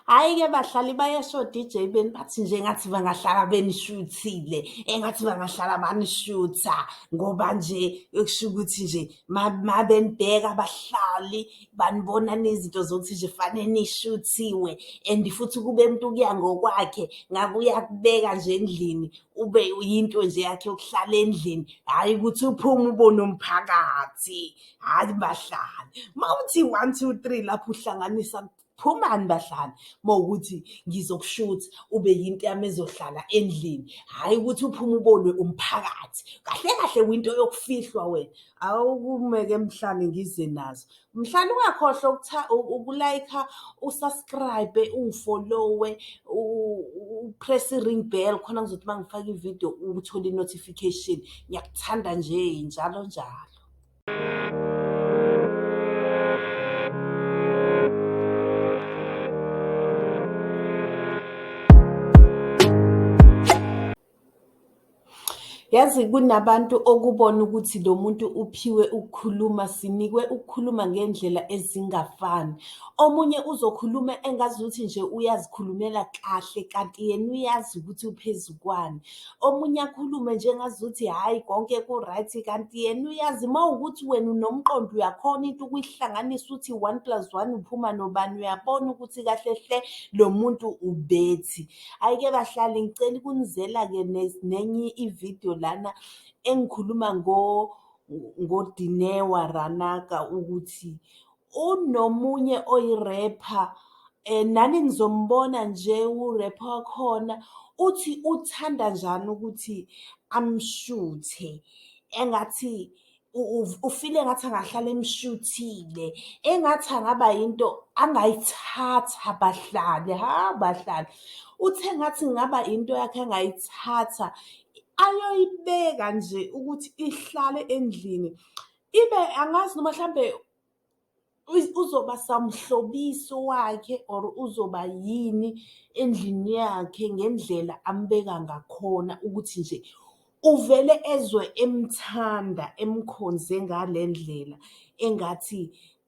Hhayi-ke bahlali bayasho DJ beni bathi nje ngathi bangahlala benishuthile engathi bangahlala banishutha ngoba nje kusho ukuthi nje mabenibheka abahlali banibona nezinto zokuthi nje fanele nishuthiwe and futhi kube umuntu kuya ngokwakhe ngabe uyakubeka nje endlini ube yinto nje yakhe yokuhlala endlini hhayi ukuthi uphume ubone umphakathi. hayi bahlali mawuthi 1 2 3 lapho uhlanganisa phumani bahlali mawukuthi ngizokushutha ube yinto yami ezohlala endlini hayi ukuthi uphume ubonwe umphakathi kahle kahle winto yokufihlwa wena awukumeke mhlali ngize nazo mhlali ungakhohlwa ukutha ukulayikha usubscribe ungifollowe upress ring bell khona ngizothi mangifaka ivideo uthole inotification ngiyakuthanda nje njalo njalo Yazi kunabantu okubona ukuthi lo muntu uphiwe ukukhuluma, sinikwe ukukhuluma ngey'ndlela ezingafani. Omunye uzokhuluma engazuthi nje uyazikhulumela kahle kanti yena uyazi ukuthi uphezu kwani. omunye akhulume nje ngazuthi hhayi konke ku-right kanti yena uyazi uma ukuthi wena unomqondo uyakhona into ukuyihlanganisa uthi one plus one uphuma nobani uyabona ukuthi kahle hle lo muntu ubethi ayike bahlali ngicela ukunizela-ke nenye ividiyo lana engikhuluma ngodinewa ranaka ukuthi unomunye oyirepha eh nani nizombona nje urepha wakhona uthi uthanda njani ukuthi amshuthe engathi ufile engathi angahlala emshuthile engathi angaba yinto angayithatha bahlale ha bahlale uthe ngathi ngaba into yakhe angayithatha ayoyibeka nje ukuthi ihlale endlini ibe angazi noma mhlambe uzoba samhlobiso wakhe or uzoba yini endlini yakhe ngendlela ambeka ngakhona ukuthi nje uvele ezwe emthanda emkhonze ngalendlela engathi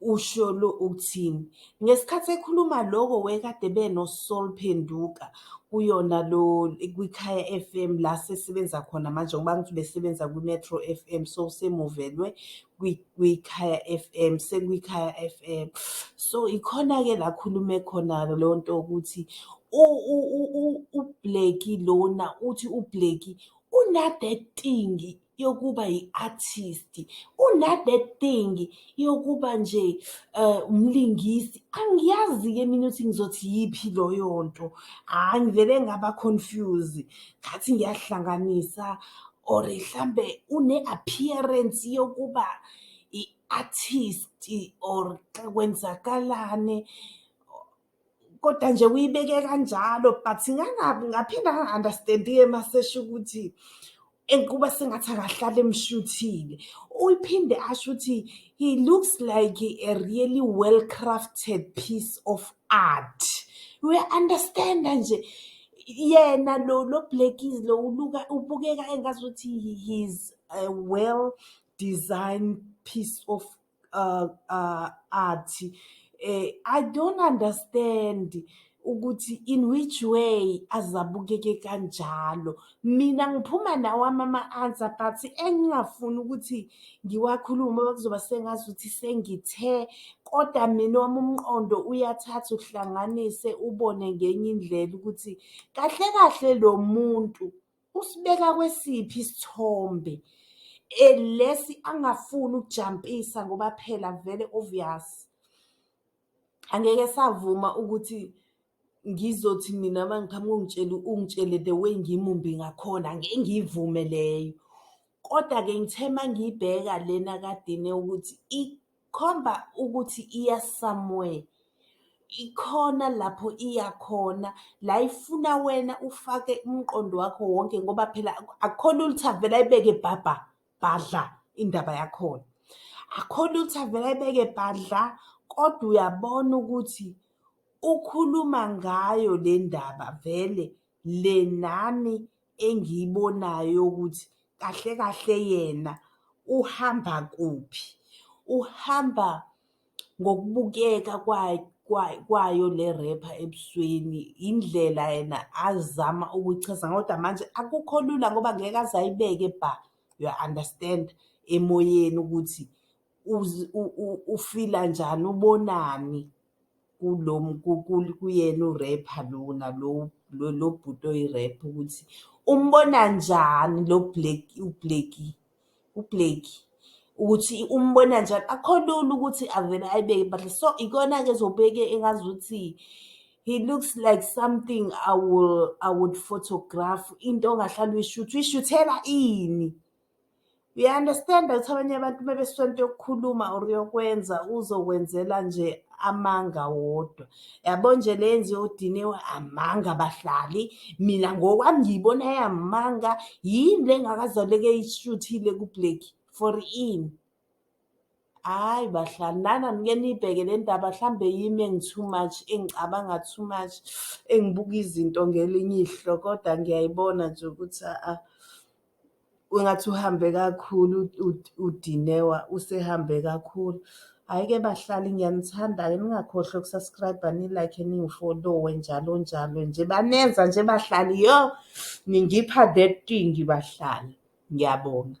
Usho lo ukuthini? Ngesikhathi ekhuluma loko wekade beno Soul Phenduka kuyona lo kwikhaya FM la sesebenza khona manje ngoba ngithi besebenza kwi-Metro FM so semuvelwe kwikhaya FM sekwikhaya FM so ikhona-ke la khulume khona leyo nto ukuthi ubleki lona uthi ubleki unadetingi yokuba yi-artist unade thing yokuba nje um umlingisi angiyazi-ke mina ukuthi ngizothi yiphi loyo nto hhayi ngivele ngaba confuse ngathi ngiyahlanganisa or mhlambe une-appearance yokuba i-artist or xa kwenzakalane kodwa nje uyibeke kanjalo but ngangabi ngaphinde angi-understand-ke masesho ukuthi kuba sengathi akahlale emshuthile uyiphinde asho ukuthi he looks like a really well crafted piece of art uya-understanda nje yena lo lo blackies lo uluka ubukeka engazuthi he is a well designed piece of uh, uh, athi eh, i don't understand ukuthi in which way azabukeke kanjalo mina ngiphuma nawo amama answer but engingafuni ukuthi ngiwakhulume bakuzoba sengazi ukuthi sengithe kodwa mina wami umqondo uyathatha uhlanganise ubone ngenye indlela ukuthi kahle kahle lo muntu usibeka kwesiphi isithombe eh, lesi angafuni ukujampisa ngoba phela vele obvious angeke savuma ukuthi ngizothi mina mangiqhamuka ungitshele ungitshele the way ngimumbi ngakhona ngeke ngiyivume leyo kodwa-ke ngithe uma ngiyibheka lena kadine ukuthi khomba ukuthi iya somewhere ikhona lapho iya khona la ifuna wena ufake umqondo wakho wonke ngoba phela akukhona ukuthi avele ayibeke bhabha bhadla indaba yakhona akhona ukuthi avele ayibeke bhadla kodwa uyabona ukuthi ukhuluma ngayo le ndaba vele le nami engiyibonayo ukuthi kahle kahle yena uhamba kuphi uhamba ngokubukeka kwayo le rapper ebusweni indlela yena azama ukuchaza kodwa manje akukho lula ngoba ngeke aze ayibeke bha you understand emoyeni ukuthi ufila njani ubonani kulo kuyena urepha lona lo bhuti oyirepha ukuthi umbona njani lo black ubleki ubleki ukuthi umbona njani akho lula ukuthi avele ayibeke but so ikona-ke ezobeke engazi ukuthi he looks like something i will i would photograph into ongahlala uyishuthi uyishuthela ini Uya-understand-a ukuthi abanye abantu uma besuka into yokukhuluma or yokwenza uzokwenzela nje amanga wodwa yabo nje le yenziwe udiniwe amanga bahlali mina ngokwami ngiyibona yamanga yini le ngakazaleke ishuthile kublack for ini Hayi bahlali nana nike niyibheke le ndaba mhlawumbe yimi engi-too much engicabanga too much engibuka izinto ngelinye ihlo kodwa ngiyayibona nje ukuthi a-a kwengathi uhambe kakhulu uDinewa usehambe kakhulu. Hhayi-ke bahlali ngiyanithanda-ke ningakhohlwa uku-subscribe-a ni-like-e ningi-follow-e njalo njalo nje banenza nje bahlali yoh. ningipha that thing bahlali. Ngiyabonga.